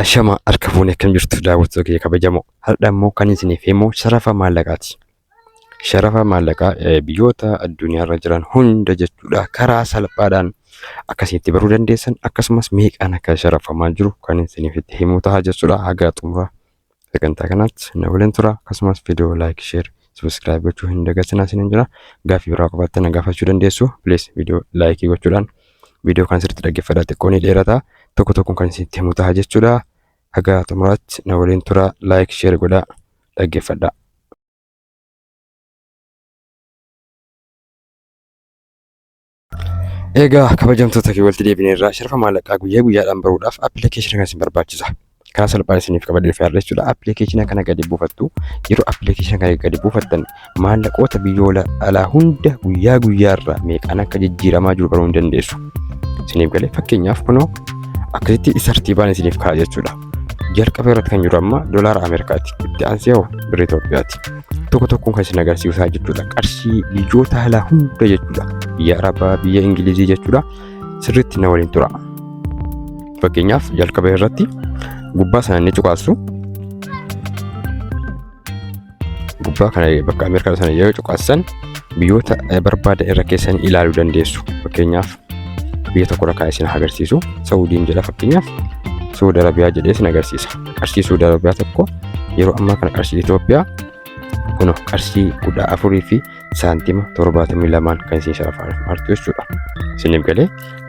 Ashama harka fuunee akkam jirtu daawwattoota kiyya kabajamoo har'a immoo kan isiniif himu sharafa maallaqaati. Sharafa maallaqaa eh, biyyoota addunyaarra jiran hunda jechuudha karaa salphaadhaan akkasitti baruu dandeessan akkasumas meeqaan akka sharafamaa jiru kan isiniif itti himu ta'a jechuudha haga xumura sagantaa kanaatti na waliin tura akkasumas viidiyoo laayik sheer sabiskiraayib gochuu hin dagatinaa isiniin jira gaaffii biraa qabaattanii na gaafachuu dandeessu plees viidiyoo laayikii gochuudhaan viidiyoo kan sirriitti dhaggeeffadhaa xiqqoo ni dheerata tokko tokkoon kan isinitti himu ta'a jechuudha haga xumuraatti na waliin tura laayik sheer godhaa dhaggeeffadhaa. Egaa kabajamtoota kee walitti deebinee irraa sharafa maallaqaa guyyaa guyyaadhaan baruudhaaf appilikeeshina kana isin barbaachisa. Karaa salphaan isiniif qabadee dhufee har'a jechuudha. Appilikeeshina kana gadi buufattu. Yeroo appilikeeshina kana gadi buufattan maallaqoota biyyoota alaa hunda guyyaa guyyaarraa meeqaan akka jijjiiramaa jiru baruu ni dandeessu. Isiniif galee fakkeenyaaf kunoo akkasitti tartiibaan isiniif ka'a jechuudha. jalqaba irratti kan jiru amma dolaara Ameerikaati. Itti aansee hoo birrii Itoophiyaati. Tokko tokkoon kan isin agarsiisaa jechuudha. Qarshii biyyoota alaa hunda jechuudha. Biyya Arabaa, biyya Ingilizii jechuudha. Sirriitti na waliin tura. Fakkeenyaaf jalqaba irratti gubbaa sana ni cuqaasu. gubbaa kana bakka Ameerikaa sana yeroo cuqaasan biyyoota barbaadan irra keessan ilaaluu dandeessu. Fakkeenyaaf biyya tokko irra kaa'ee isin agarsiisu. Saudiin jedha fakkeenyaaf Suudi Arabiyaa jedhee isin agarsiisa. Qarshii Suudi Arabiyaa tokko yeroo ammaa kana qarshii Itoophiyaa kun qarshii kudha afurii fi saantima 72 kan isin sharafaa artu jechuudha. Isiniif galee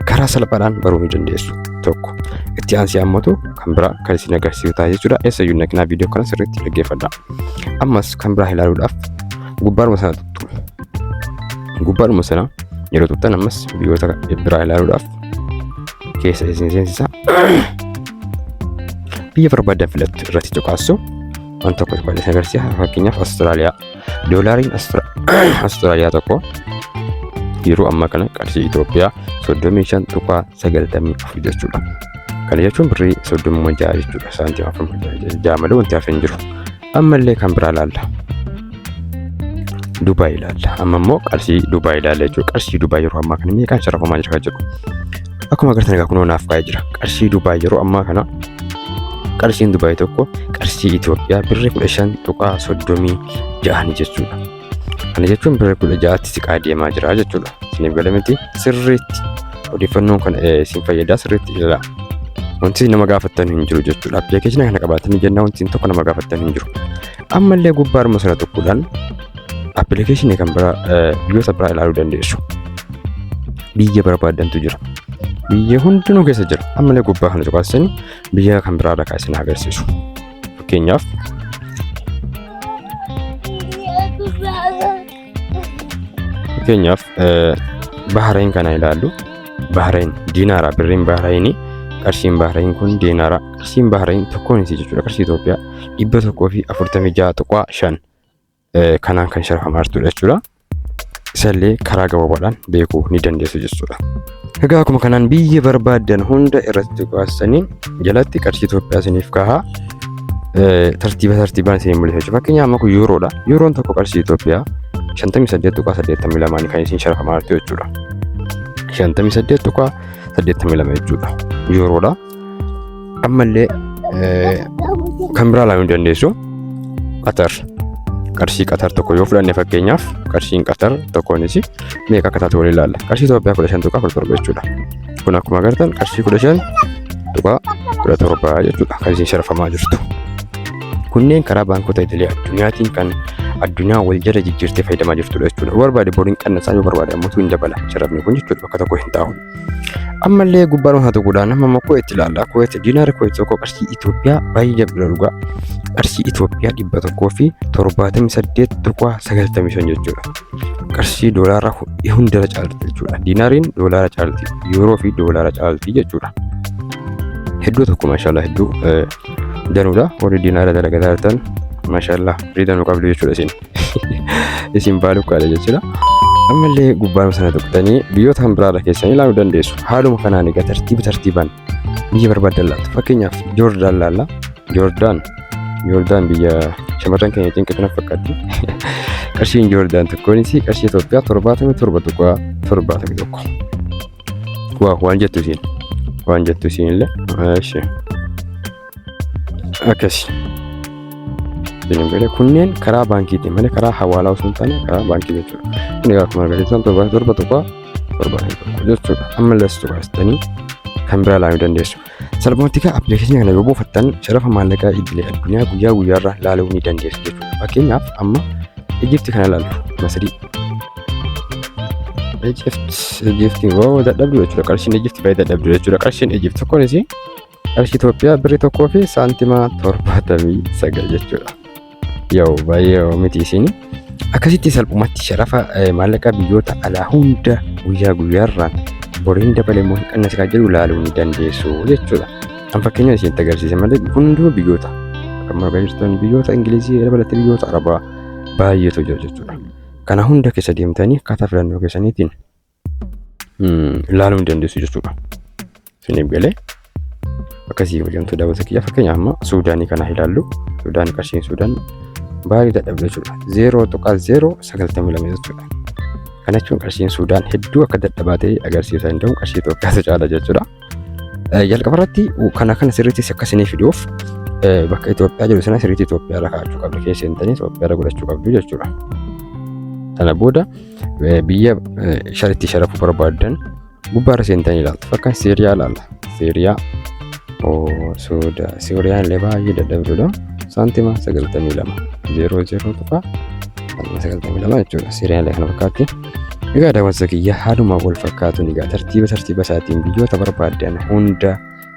karaa salphaadhaan baruu ni dandeessu. Tokko itti aansee ammatu kan biraa kan isin agarsiisu ta'a jechuudha. Eessa iyyuu naqinaa viidiyoo kana sirriitti dhaggeeffadha. Ammas kan biraa ilaaluudhaaf gubbaadhuma sana tuttu. Gubbaadhuma sana yeroo tuttan ammas biyyoota biraa ilaaluudhaaf keessa isin seensisa. Biyya barbaadan filattu irratti cuqaassu. Waan tokko tokko isin agarsiisa. Fakkeenyaaf Awustiraaliyaa. Doolaariin Austraaliyaa tokko yeroo ammaa kana qarshii Itoophiyaa 35.94 jechuudha. Kana jechuun birrii 36 jechuudha. Saantii 46 malee wanti hafe hin jiru. Ammallee kan biraa ilaalla. Dubaay ilaalla. Amma immoo qarshii Dubaay ilaalla jechuudha. Qarshii Dubaay yeroo ammaa kana meeqaan sharafamaa jira kan jedhu. Akkuma agartan egaa kunoo naaf kaa'ee jira. Qarshii Dubaay yeroo ammaa kana qarshiin Dubaay tokko qarshii Itoophiyaa birri kudha shan tuqaa soddomii ja'ani jechuudha. Kana jechuun birri kudha ja'atti siqaa deemaa jira jechuudha. Isiniif gala miti sirriitti odeeffannoon kan isin fayyadaa sirriitti ilaalaa. Wanti nama gaafattan hin jiru jechuudha. Appilikeeshinii kana qabaatanii jennaa wanti tokko nama gaafattan hin jiru. Ammallee gubbaa arma sana tokkodhaan Appilikeeshinii kan biraa eh, biyyoota biraa ilaaluu dandeessu. Biyya barbaaddantu jira. Biyya hundinuu keessa jira. Ammallee gubbaa kana cuqaasin biyya kan biraadha kan isin agarsiisu. Fakkeenyaaf fakkeenyaaf eh, Bahrain kana ilaallu. Bahrain diinaara birriin Bahrainii qarshiin Bahrain kun diinaara qarshiin Bahrain tokkoon isii jechuudha qarshii Itoophiyaa dhibba tokkoo fi afurtamii ja'a tuqaa shan kanaan kan sharafamaa jirtudha jechuudha. Isallee karaa gabaabaadhaan beekuu ni dandeessu jechuudha. Egaa akkuma kanaan biyya barbaaddan hunda irratti baastaniin jalatti qarshii Itoophiyaa isiniif kahaa tartiiba tartiibaan isin mul'isa jechuudha. Fakkeenyaaf amma kun yuuroodha. Yuuroon tokko qarshii Itoophiyaa 58.82 kan isin sharafamaa jirtu jechuudha. 58.82 jechuudha. Yuuroodha. ammallee eh, kan biraa ilaaluu dandeessu qatar qarshii qatar tokko yoo fudhanne fakkeenyaaf qarshiin qatar tokkoonis meeqa akka taatu waliin ilaalla qarshii Itoophiyaa kudha shan tuqaa kudha torba jechuudha kun akkuma agartan qarshii kudha shan tuqaa kudha torba jechuudha kan isin sharafamaa jirtu kunneen karaa baankota idilee addunyaatiin kan addunyaa wal jala jijjiirtee fayyadamaa jirtudha jechuudha yoo barbaade boriin qannasaa yoo barbaade ammoo hin dabala sharafni kun jechuudha bakka tokko hin taa'u ammallee gubbaan haa tuquudhaan amma immoo kuweet ilaalla kuweet diinaara kuweet tokko qarshii Itoophiyaa baay'ee jabdudha dhugaa qarshii Itoophiyaa dhibba tokkoo fi torbaatamii saddeet tuqaa sagaltamii shan jechuudha qarshii doolaara hundara caalti jechuudha diinaariin doolaara caalti yuuroo fi doolaara caalti jechuudha hedduu tokko maashaallah hedduu danuudha warri diinaara dalagataa jirtan maashaallah firii danuu qabdu jechuudha isin. isin baaluu kaadha jechuudha. Ammallee gubbaa sana tuqxanii biyyoota kan biraarra keessan ilaaluu dandeessu. Haaluma kanaan egaa tartiiba tartiibaan biyya barbaadan laatu. Fakkeenyaaf Joordaan laalla. Joordaan Joordaan biyya shamarran keenya cinqitu na fakkaatti. Qarshiin Joordaan tokkoonis qarshii Itoophiyaa torbaatamii torba tuqaa torbaatamii tokko. Waa waan jettu isiin. Waan jettu isiin illee. Ishee. akkasi bilimgale kunneen karaa baankiitiin malee karaa hawaalaa osoo hin taane karaa baankii jechuudha inni egaa akkuma argisiisan torba torba tokko torba tokko jechuudha amma lassu baastanii kan biraa ilaaluu dandeessu salphumatti egaa appilikeeshinii kana yoo buufattan sharafa maallaqaa idilee addunyaa guyyaa guyyaarraa ilaaluu ni dandeessu jechuudha fakkeenyaaf amma ijifti kana ilaallu masadii ijifti ijifti woo dadhabdu jechuudha qarshiin ijifti baay'ee dadhabdu jechuudha qarshiin ijifti tokkoon isii qarshii Itoophiyaa birri tokkoo fi saantima torbaatamii sagal jechuudha. Yoo baay'ee miti isin akkasitti salphumatti sharafa maallaqa biyyoota alaa hunda guyyaa guyyaarraan boriin dabalee immoo hin qannas kan jedhu ilaaluu ni dandeessu jechuudha. Kan fakkeenya isinitti agarsiise malee hunduu biyyoota kan marga jirtan biyyoota Ingilizii dabalatee biyyoota Arabaa baay'eetu jira jechuudha. Kana hunda keessa deemtanii akkaataa filannoo keessaniitiin ilaaluu hin dandeessu jechuudha. Isiniif galee akkasii hojjamtuu daawwata kiyya fakkeenyaaf amma Suudaanii kana ilaallu Suudaan qarshiin Suudaan baay'ee dadhabde jechuudha. Zeeroo tuqaa zeeroo sagaltamii lama jechuudha. Kana jechuun qarshiin Suudaan hedduu akka dadhabaa ta'e agarsiisaa hin danda'u qarshii Itoophiyaatu caala jechuudha. Jalqaba irratti kana kana sirriitti akka isiniif fiduuf bakka Itoophiyaa jiru sana sirriitti Itoophiyaa irra kaa'achuu qabdu keessa hin ta'in Itoophiyaa irra godhachuu qabdu jechuudha. Sana booda biyya sharitti sharafu barbaadan gubbaarra seentanii ilaaltu fakkan seeriyaa ilaalla seeriyaa sooda seeriyaan illee baay'ee dadhabdudha saantima 92 zeeroo zeeroo tuqa saantima 92 jechuudha seeriyaan illee kana fakkaatti egaa daawwansa kiyya haaluma wal fakkaatuun egaa tartiiba tartiiba isaatiin biyyoota barbaadan hunda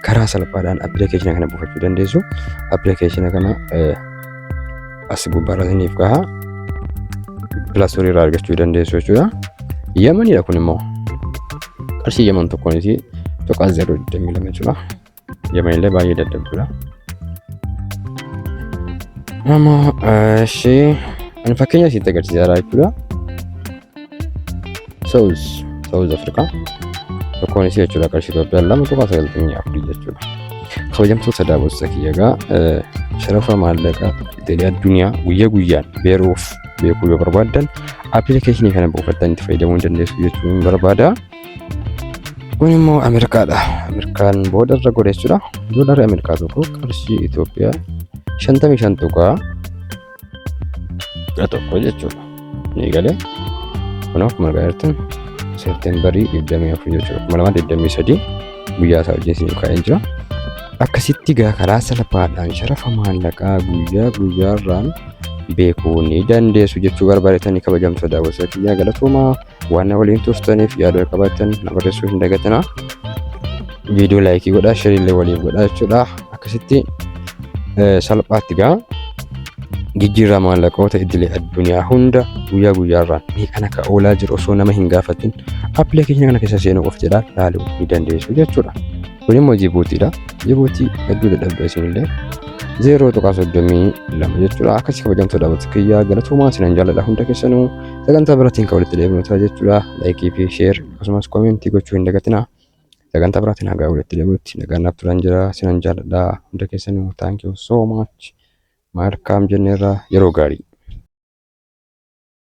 karaa salphaadhaan appilikeeshina kana buufachuu dandeessu. Appilikeeshina kana as gubbaarra isiniif kaha. Pilaastorii irraa argachuu dandeessu jechuudha. Yamanidha kun immoo. Qarshii yaman tokkoonis tuqaa 022 jechuudha. Yaman illee baay'ee dadhabdudha. Nama ishee ani fakkeenya isitti agarsiisaa jechuudha. South South Africa tokkoon isii jechuudha qarshii Itoophiyaa lama tuqaa sagaltamii afurii jechuudha. Kabajamtoota daawwattoota kiyya egaa eh, sharafa maallaqa idilee addunyaa guyyaa guyyaan beeruuf beekuu yoo barbaaddan appilikeeshinii kana buufattan itti fayyadamuu ni dandeessu jechuun barbaada. Kun immoo Ameerikaadha. Ameerikaan booda irra godha jechuudha. Doolaarri Ameerikaa tokko qarshii Itoophiyaa shantamii shan tuqaa kudha tokko jechuudha ni galee kun akkuma argaa jirtan seepteembarii digdamii afur jechuudha kuma lamaa digdamii sadii guyyaa isaa wajjin siin kaa'ee jira akkasitti gaa karaa salphaadhaan sharafa maallaqaa guyyaa guyyaarraan beekuu ni dandeessu jechuu barbaadetanii kabajamtoota daawwattoota kiyyaa galatoomaa waan na waliin turtaniif yaada qabaattan na barreessuu hin dagatinaa viidiyoo laayikii godhaa shiriillee waliif godhaa jechuudha akkasitti eh, salphaatti gaa jijjiirraa maallaqoota idilee addunyaa hunda guyyaa guyyaarraan mee kan akka oolaa jiru osoo nama hin gaafatin appilikeeshinii kana keessa seenuu qof jedhaa laaluu ni dandeessu jechuudha. Kun immoo Jibuutiidha. Jibuutii hedduu dadhabda isinillee. Zeeroo tuqaa soddomii lama jechuudha. Akkasii kabajamtuu dhaabbattu kiyyaa galatoomaa sinan jaalladha hunda keessanuu sagantaa biraatiin kan walitti deebinu ta'a jechuudha. Laayikii fi sheer akkasumas koomentii gochuu hin dagatinaa. Sagantaa biraatiin hagaa walitti deebinutti nagaan naaf turan jira sinan jaalladha hunda keessanuu thank you so much. Maarkaam jenneerra yeroo gaarii.